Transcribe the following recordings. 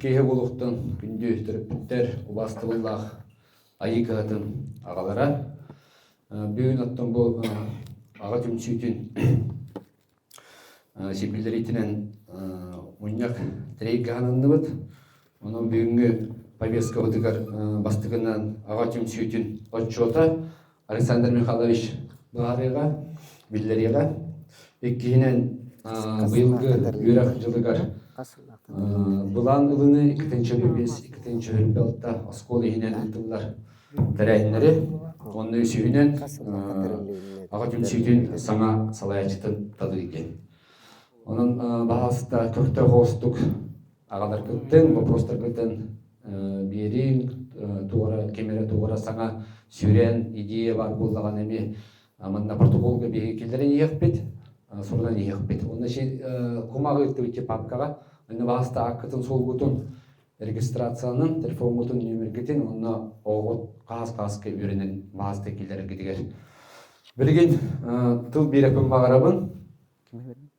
киһи булуктан күндү төрөппүттэр убас тыллаах айыы кыһатын аҕалара бүгүн оттон бу аҕа түмсүүтүн сирбилэриитинэн мунньах трейгаананныбыт онон бүгүҥҥү повесткабытыгар бастыгынан аҕа түмсүүтүн отчуота Александр Михайлович быһаарыыга, биллэриэҕэ. Иккиһинэн, быйылгы үөрэх дьылыгар былаан ылыны иккитинчи бүппүс, иккитинчи бүппэлта оскуола иһинэн ыытыллар тэрээһиннэри, онно үсүһүнэн Аҕа түмсүүтүн саҥа салайааччытын талыы диэн. Онон баһаалыста көхтөөх оҕустук аҕаларгытын боппуруостаргытын биэриҥ туора ким эрэ туора саҥа сүүрээн идея баар буоллаҕына эмиэ манна португалга биһиги киллэрэн иһиэхпит сурунан иһиэхпит уонна кумах ыыттыбыт папкаҕа иннобаһаста аккытын суолгутун регистрациянын телефоҥҥутун нүөмэргитин уонна оҕоҕут хаһаас хааска үөрэнэн баһаста киллэрэргитигэр билигин тыл биэрэкпин баҕарабын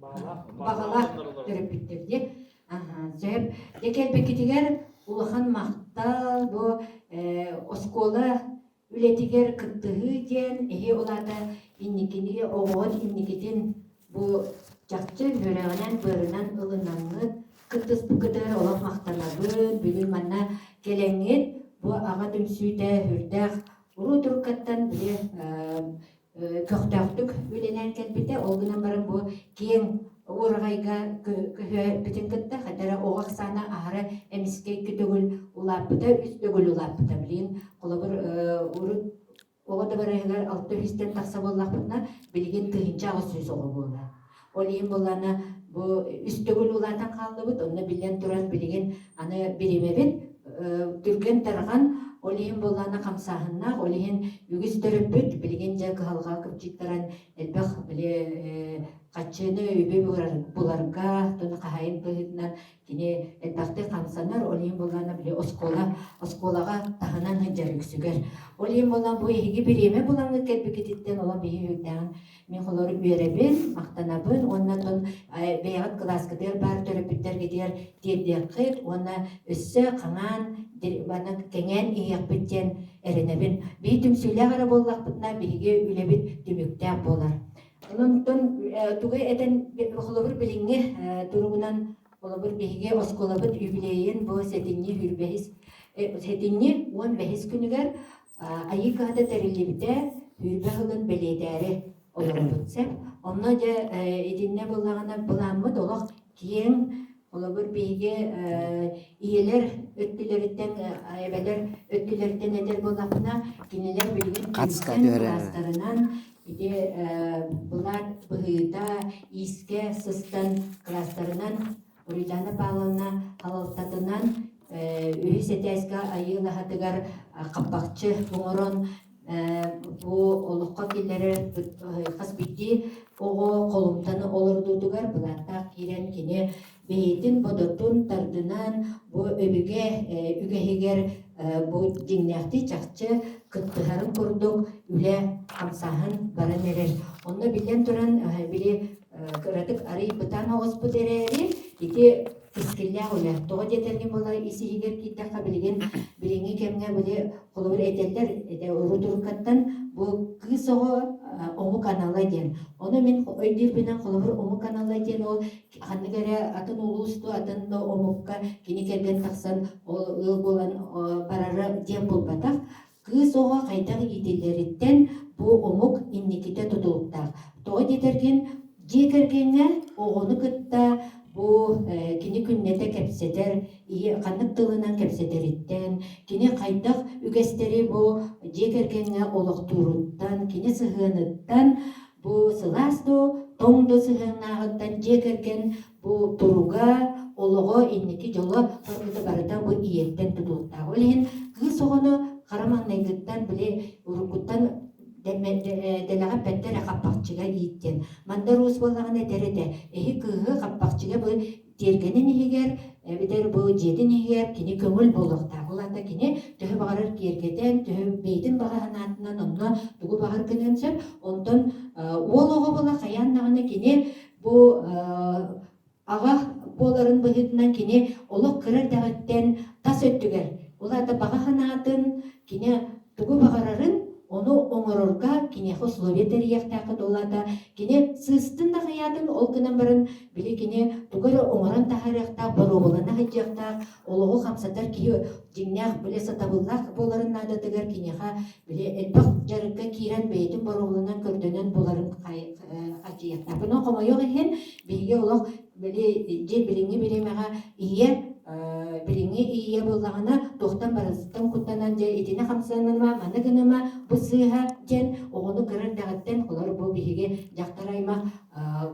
баҕалаах төрөппүттэр диye сөп де кэлбеккитигер улахан махтал бу оскуола үлэтигер кыттыһыы диэн эһи олата инникини оҕоҕун инникитин бу чахчы үөрэҕинэн быарынан ылынаҥҥыт кыттыспыкытыр олох махтанабын бүгүн манна кэлэҥҥит бу аҕа түмсүүтэ үрдээх Уруу туркаттан били көхтөөхтүк үлэнэн кэлбитэ. Ол гынан баран бу киэҥ ураҕайга көһөөппүтүн кытта хатара оҕо ахсаана аһара эмискэй күтөгүл улааппыта, үс төгүл улааппыта. Билин холобур урут оҕо дабарайыгар алта үстэн тахса буоллахпытына, билигин тыһыынча аҕыс сүүс оҕо буолар. Ол иһин буллана бу үс төгүл улаатан хааллыбыт, онно биллэн турар билигин аны биримэбит түргэн тарҕан, ол иһин буллана хамсааһыннаах, ол иһин үгүс төрөппүт билигин дьэ кыһалҕа кыпчыттаран элбэх били хаччыыны үбү буларга, тону хаһайын быһыытынан Кини элбэхтик хамсанар, ол иһин буоллаҕына били оскуола оскуолаҕа таһынан сылдьар үксүгэр. Ол иһин буоллаҕына бу эһиги бириэмэ булаҥҥыт кэлбиккититтэн олох биһи үһүйлээҕин мен холору үөрэбин, махтанабын уонна тон э, бэйэҕит кылааскытыгар баар төрөппүттэргитигэр тиэрдиэххит уонна өссө хаҥаан манна кэҥээн иһиэхпит диэн эрэнэбин. Бии түмсүүлээх эрэ буоллахпытына биһиги үлэбит түмүктээх буолар. Онон тугай этэн холобур билиҥҥи туругунан холобур биһиги оскуолабыт юбилейын бу сэтинньи үрбэһис сэтинньи уон бэһис күнүгэр Айыы кыһата тэриллибитэ үрбэ сылын бэлиэтээри олоробут сеп. Онно дьэ итиннэ былаанмыт олох киэҥ Холобур, биһиги ийэлэр өттүлэриттэн, эбэлэр өттүлэриттэн эдэр буоллахпына, кинилэр билигин кылаастарынан ити былаат быһыыта иискэ сыстан кылаастарынан Рузана Павловна халалтатынан үһүс этээскэ айыылаһатыгар хаппахчы оҥорон бу олоххо киллэрэр хас биирдии оҕо холумтаны олордуутугар былааттаах киирэн кини бэйэтин бодотун тардынан бу өбүгэ үгэһигэр бу дьиҥнээхтии чахчы кыттыһарын курдук үлэ хамсааһын баран эрэр онно биллэн туран били кыратык арый бытаан оҕуспут эрээри ити кэскиллээх үлэ тоҕо диэтэргэ буолар ис иһигэр киирдэххэ билигин билиҥҥи кэмҥэ били холобур этэллэр этэ рутуркаттан бу кыыс оҕо омук анала диэн ону мин өйдүүрбүнэн холобур омук анала диэн ол ханнык эрэ атын улуусту атын да омукка кини кэргэн тахсан ол ыал буолан барара диэн булбатах Кыыс оҕо хайдах иитиллэриттэн бу омук инникитэ тутулуктаах. Тоҕо диэтэргин, дьиэ кэргэҥҥэ оҕону кытта бу э, кини күннэтэ кэпсэтэр, иһи ханнык тылынан кэпсэтэриттэн, кини хайдах үгэстэри бу дьиэ кэргэҥҥэ олохтууруттан, кини сыһыаныттан, бу сылаас да, тоҥ да сыһыаннааҕыттан дьиэ кэргэн Бу туруга олоҕо инники дьоло сырыыта барыта бу ийэттэн тутулуктаах. Ол иһин кыыс оҕону хара маҥнайгыттан били уруккуттан дэлэҕэ эппэттэ эрэ хаппахчыга ииттиэн. Мандар уус буоллаҕына этэр этэ, эһи кыыһы хаппахчыга бу тиэргэнин иһигэр эбэтэр бу дьиэтин иһигэр кини көҥүл буолуохтаах. Ол аата кини төһө баҕарар киэргэтэн, төһө бэйэтин баҕа санаатынан онно тугу баҕар гыныан сөп. Онтон уол оҕо буола хайаан даҕаны кини Бу аҕа буоларын быһыытынан кини олох кыра эрдэҕиттэн тас өттүгэр, улаата баҕа санаатын, кини тугу баҕарарын, ону оҥорорго киниэхэ условия тэрийиэхтээххит улаата. Кини сыыстын нахыйаатын ол гынан баран били кини тугу эрэ оҥорон таһаарыахтаах, боруобалана сылдьыахтаах, олоҕу хамсатар киһи дьиҥнээх билэ сатабыллаах буоларын наадатыгар киниэхэ били элбэх дьарыкка киирэн бэйэтин боруобаланан көрдөнөн буларын адьыйатынабын хомойуох иһин биһиги олох били дьиэ билиҥҥи бириэмэҕэ ийэ билиҥҥи ийэ буоллаҕына туохтан барытыттан куттанан дьэ итини хамсаныма маны гыныма бу сыыһа диэн оҕону кыра эрдэҕиттэн олор бу биһиги дьахтар аймах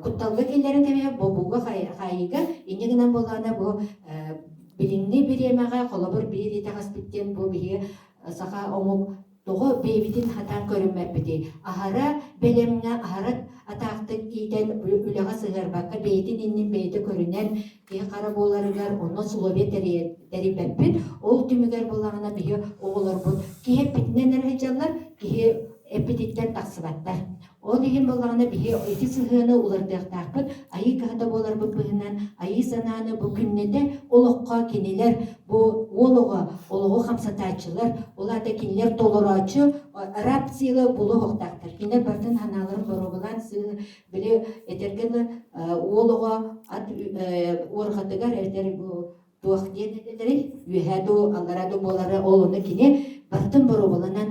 кутталга киллэрэн кэбиһэ бобууга хаайыыга инньэ гынан буоллаҕына бу Билиҥҥи бириэмэҕэ холобур биир итэҕэспит диэн бу биһиги саха омук тоҕо бэйэбитин хатаан көрүммэппитий? Аһара бэлэмҥэ, аһара атаахтык иитэн үлэҕэ сыһыарбакка бэйэтин иннин бэйэтэ көрүнэн киһи хара буоларыгар онно условия тэрийбэппит. Ол түмүгэр буоллаҕына биһи оҕолорбут киһи эппитинэн эрэ сылдьаллар, киһи эппититтэн тахсыбаттар. Ол иһин буоллаҕына биһи ити сыһыаны уларытыахтаахпыт айыы кыһата буоларбыт быһынан айыы санааны бу күннэтэ олоххо кинилэр бу уол оҕо олоҕу хамсатааччылар ол аата кинилэр толороочу раб сила булуһуохтаахтар кинилэр бартын санааларын боруобалаан сыһын били этэргэ уол оҕо ат уорҕатыгар этэр бу туох диэн этилэри үөһэ дуу аллара дуу буолары ол ону кини бартын боруобаланан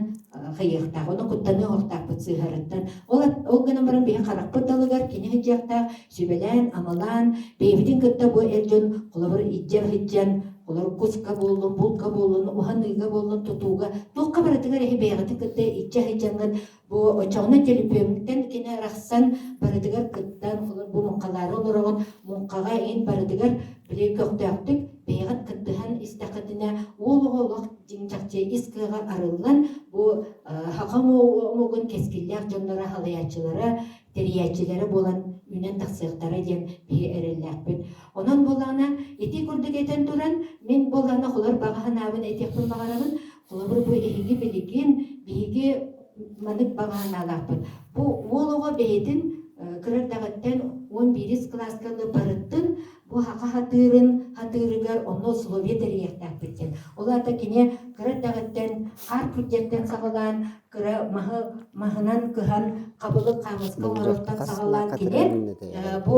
хыйыахтаах ону куттаныы оһохтаахпыт сыыһарыттан ол ол гынан баран биһи харахпыт далыгар кини сыдьыахтаах сүбэлээн амалаан бэйэбитин кытта бу эр дьон холобур иджэ сыдьан олор куска буоллун булка буоллун уһаныыга буоллун тутууга туохха барытыгар эһи бэйэҕитин кытта иччэ сыдьаҥҥыт Бу очоҕуна төлөпүөҥҥүттэн кини арахсан барытыгар кыттан, олор бу муҥхалаары олороҕун, муҥхаҕа ин барытыгар били көхтөөхтүк бэйэҕит кыттыһан истэххитинэ уол оҕо олох дьиҥ чахчы ис кыаҕа арыллан бу хахам омугун кэскиллээх дьонноро халайааччылара тэрийээччилэрэ буолан үүнэн тахсыахтара диэн биһи эрэллээхпит онон буолаана ити курдук этэн туран мин буолаана холор баҕа санаабын этиэхпин баҕарабын Холобур, бу эһиги билигин биһиги маннык баҕаанаалаахпыт. Бу уол оҕо бэйэтин кырардаҕыттан он биирис кылааска барыттын бу хаха хатыырын хатыырыгар онно условие тэрийиэхтээхпит диэн. Ол аата кини кырардаҕыттан хаар күрдьэттэн саҕалаан кыра маһы маһынан кыһан хабылык хаамыска оҥорортон саҕалаан кини бу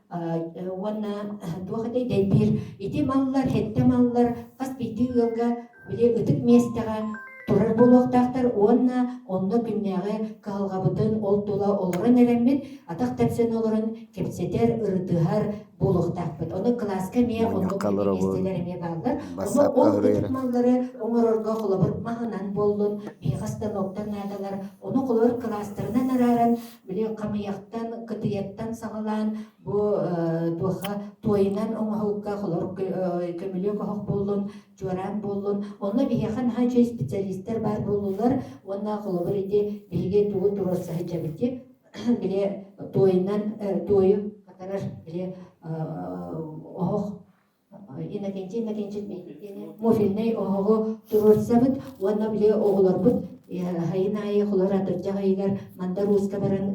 уонна туох этэй дэлбиир ити маллар сэттэ маллар хас биирдии ыалга били ытык миэстэҕэ турар буолуохтаахтар уонна онно күннээҕи кыһалҕабытын ол тула олорон эрэммит атах тэпсэн олорон кэпсэтэр ырытыһар буолуохтаахпыт ону кылааска эмиэ оннук миэстэлэр эмиэ бааллар онно ол ытык маллары оҥорорго холобур маһынан буоллун биһиэхэ станоктар наадалар ону холобур кылаастарынан арааран Били хамыйахтан, кытыйаттан саҕалаан бу э, туохха туойунан оҥоһукка холор көмүлүөк оһох буоллун, чуораан буоллун. Онно биһиэхэ наһаа үчүгэй специалистар баар буоллулар уонна холобур ити биһиги тугу туруорса сылдьабыт дии. Били туойунан э, туойу хатарар били э, оһох Иннокентий Иннокентьевич муфильнай оһоҕу туруорсабыт уонна били оҕолорбут айын аайы хлоратырдьах ыйыгар мандар ууска баран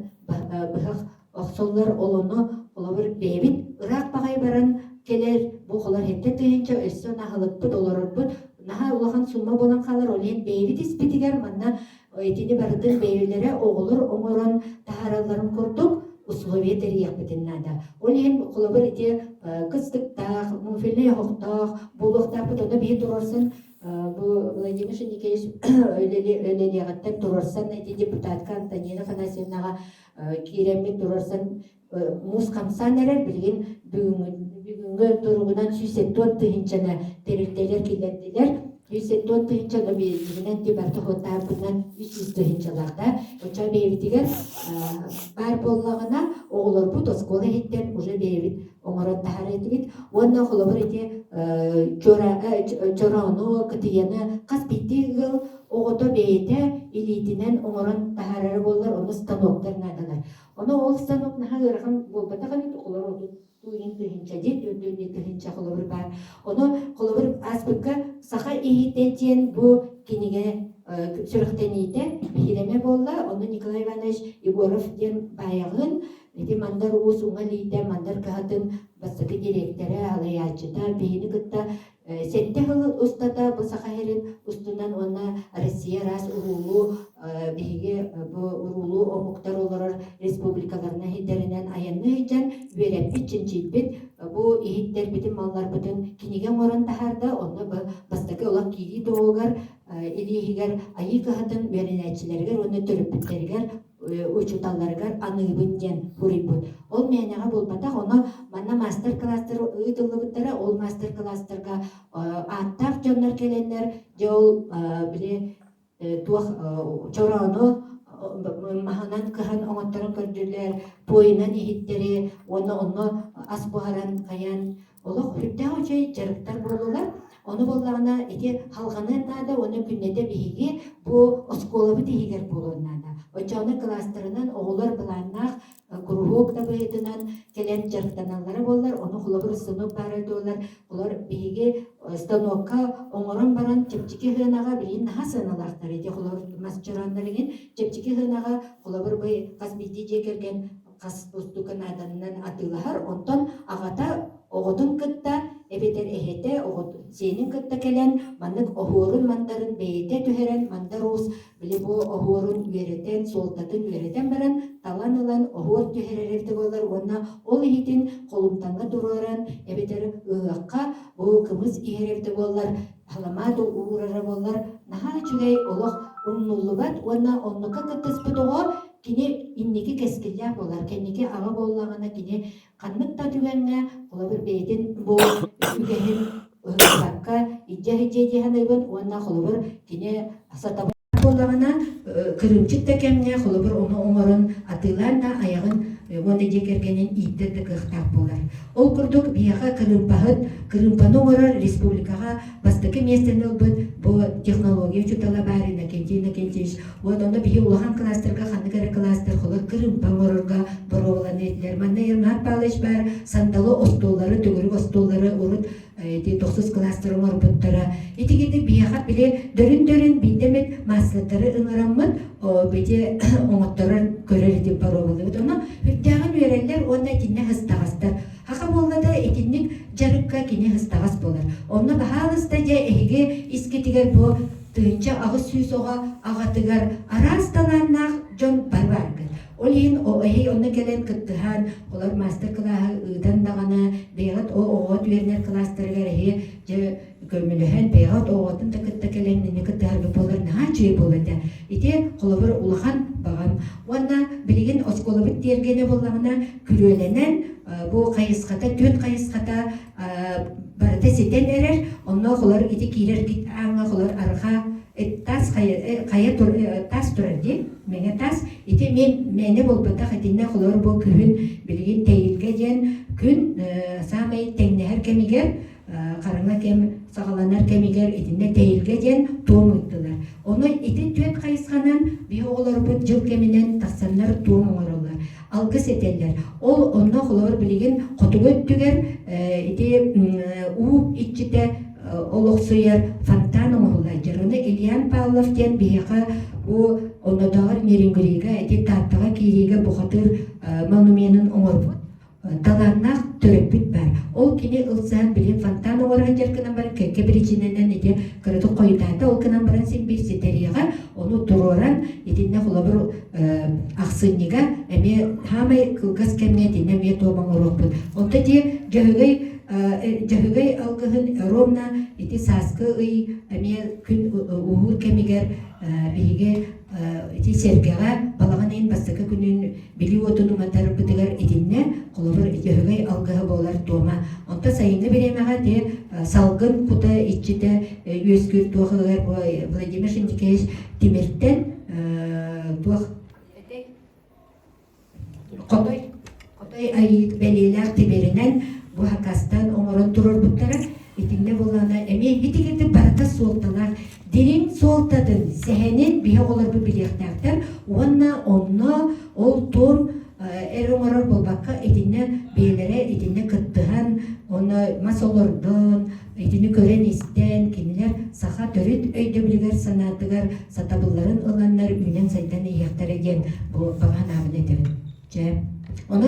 быһах охсоллор ол ону холобур бэйэбит ыраах баҕай баран кэлэр бу холор хэттэ тыһыынча өссө наһылыкпыт олорорбут наһаа улахан сумма буолан хаалар ол иһин бэйэбит испитигэр манна Итини барытын бэйэлэрэ оҕолор оҥорон таһааралларын курдук условия тэрийиэхпитин наада. Ол иһин холобур ити кыстыктаах, муфельнай оһохтоох буолуохтаахпыт онно биһи турарсан бу Владимир Николаевич үлэлиэҕиттэн турарсан ити депутатка Антонина Афанасьевнаҕа киирэммит турарсан муус хамсаан эрэр билигин бүгүҥҥү туругунан сүүс тоҕус тыһыынчаны тэрилтэлэр киллэрдилэр үс тоҕус тыһыынчаны бэйэтигинэн департаmentарбынан үс жүз тыһыынчаларда очо бэйэбитигэр баар буоллаҕына оҕолорбут оскуола иһиттэн уже бэйэбит оҥорон таһар этибит уонна холобур ити чороону кытыйаны хас биирдии ыал оҕото бэйэтэ илиитинэн оҥорон таһарара буоллар ону станоктар наадалар Ону ол станок наһаа ыарахан буолбатах эбит, олор отутуу иһин тыһыынча диир, дүндү иһин тыһыынча холобур баар. Ону холобур ааспыкка саха иһиттэн диэн бу кинигэ сүрэхтэниитэ биһирэмэ буолла. Онно Николай Иванович Егоров диэн баайаҕын, ити Мандар Уус уҥа илиитэ, Мандар кыһатын бастакы дириэктэрэ, салайааччыта, биһини кытта Сэттэ сыл устата бу Саха сирин устунан уонна Россия араас уруулуу биһиги бу уруулуу омуктар олорор республикаларына иһитэринэн айанныы сылдьан үөрэппит, чинчийбит бу иһиттэрбитин малларбытын кинигэ оҥорон таһаарда, онно бастакы олох киирии туһугар илииһигэр айыы кыһатын үөрэнээччилэригэр уонна төрөппүттэригэр учууталларыгар аныыбын диэн суруйбут. Ол мээнэҕэ буолбатах, ону манна маастар-кылаастар ыытыллыбыттара, ол маастар-кылаастарга ааттаах дьоннор кэлэннэр, дьэ ол били туох чороону маһынан кыһан оҥотторон көрдүлэр, пуойунан иһиттэри, уонна онно ас буһаран хайаан Олох үрдээх үчэй дьарыктар буоллулар. Ону буоллаҕына ити халҕаныан наада уонна күннэтэ биһиги бу оскуолабыт иһигэр буолуон наада. Оччоҕуна кылаастарынан оҕолор былааннаах э, куруһуок дабайытынан кэлэн дьарыктаналлара буоллар, ону холобур станок баара буоллар, олор биһиги э, станокка оҥорон баран чэпчэки сыанаҕа билигин наһаа сыаналаахтар ити холобур мас чорооннор иҥин чэпчэки сыанаҕа холобур бый хас биирдии дьиэ кэргэн хас бултука нааданынан атыылаһар, онтон аҕата оҕотун кытта эбэтэр эһэтэ оҕот сиэнин кытта кэлэн маннык оһуорун-мандарын бэйэтэ түһэрэн мандаруус били бу оһуорун үөрэтэн суолтатын үөрэтэн баран талан ылан оһуор түһэрэр эбитэ буоллар уонна ол иһитин холумтаҥҥа туруоран эбэтэр ыһыахха бу кымыс иһэр эбитэ буоллар халамаат уурара буоллар наһаа үчүгэй олох умнуллубат уонна оннукка кыттыспыт оҕо Кини инники кэскиллээх буолар, кэнники аҕа буоллаҕына кини ханнык да түгэҥҥэ, холобур, бэйэтин бу үгэһин ыһыктыбакка илдьэ сылдьыа дии саныыбын уонна холобур, кини сатабыл буоллаҕына, кырыымчык да кэмҥэ, холобур, ону оҥорон атыылаан да айаҕын уонна дьиэ кэргэнин ииттэр да кыахтаах буолар. Ол курдук, биһиэхэ кырыымпаһыт, кырыымпаны оҥорор республикаҕа бастакы миэстэни ылбыт бу технология учуутала баар Иннокентий Иннокентьевич Вот онно биһи улахан кылаастарга ханнык эрэ кылаастар холо кырыымпа оҥорорго боруобаланна этилэр. Манна Ермар Павлович баар сандалы остуоллары, төгүрүк остуоллары урут ити тохсус кылаастар оҥорбуттара. Ити гинник биһиэхэ били дөрүн-дөрүн биирдэ эмит маассаттары ыҥыраммыт бити оҥотторор көрөр итин боруобалыыбыт. Ону үрдээҕин үөрэллэр уонна итиннэ һыстаҕастар. Аха буоллата итинник дьарыкка кини һыстаҕас буолар. Онно баһаалыста дьэ эһиги искитигэр бу тыһыынча аҕыс сүүс оҕо аҕатыгар араас талааннаах дьон бары бааргыт. Ол иһин эһий онно кэлэн кыттыһан, олор мастер-кылааһы ыытан даҕаны, бэйэҕит оҕоҕут үөрэнэр кылаастарыгар эһи дьэ көмөлөһөн, бэйэҕит оҕоҕутун да кытта кэлэн инньэ кыттыһаргыт буолар наһаа үчүгэй буолуо этэ. Ити холобур улахан баҕам. Уонна билигин оскуолабыт тиэргэнэ буоллаҕына, күрүөлэнэн бу хайысхата, түөн хайысхата барыта ситэн эрэр онно холор ити киирэргит ааҥҥа холор арҕаа тас хайа тас турар ди мэҥэ тас ити мен мээнэ буолбатах итиннэ холор бу күһүн билигин тэйилгэ диэн күн саамай тэҥнэһэр кэмигэр хараҥа кэм саҕаланар кэмигэр итиннэ тэйилгэ диэн туом ыыттылар ону ити түөт хайысханан биһ оҕолорбут дьыл кэминэн тахсаннар туом оҥороллор алгыс этэллэр. Ол онно холобур билигин хотугу өттүгэр ити уу иччитэ олохсуйар фонтан оҥоһуллайдыр. Оны Ильян Павлов диэн биһиэхэ бу оннотооҕор Нерюнгрига ити Тааттаҕа киириигэ бухатыыр монуменын оҥорбут талааннаах төрөппүт баар. Ол кини ылсаан билим фонтан оҥоро сылдьар гынан баран кэккэ причинэнэн ити кыратык хойутаата. Ол гынан баран син биир ситэриэҕэ. Ону туруоран итиннэ холобур ахсынньыга эмиэ саамай кылгас кэмҥэ итиннэ эмиэ туом оҥоруохпут. Онто дии дьөһөгөй дьөһөгөй алгыһын ромна ити сааскы ый эмиэ күн ууһуур кэмигэр биһиги ити сэргэҕэ балаҕан ыйын бастакы күнүн билии уотун уматарбытыгар итиннэ холобур өһүгэй алгыһы буолар туома онто сайыҥҥы бириэмэҕэ те салгын кута иччитэ үөскүүр туохыгар владимир шиндикевич тимиртэн туох хотой хотой айыыт бэлиэлээх тимиринэн бу хакастан оҥорон турурбуттара Итиннэ буоллаҕына эмиэ битигирдик барыта суолталаах дириҥ суолтатын сэһэнин биһи оҕолорбут билиэхтээхтэр уонна онно ол туом эр оҥорор буолбакка итиннэ бэйэлэрэ итиннэ кыттыһан онно мас олордон итини көрөн-истэн кинилэр саха төрүт өйдөбүлүгэр санаатыгар сатабылларын ыланнар үүнэн сайдан иһиэхтэрэ диэн бу баҕа ханаабын этэбин дьэ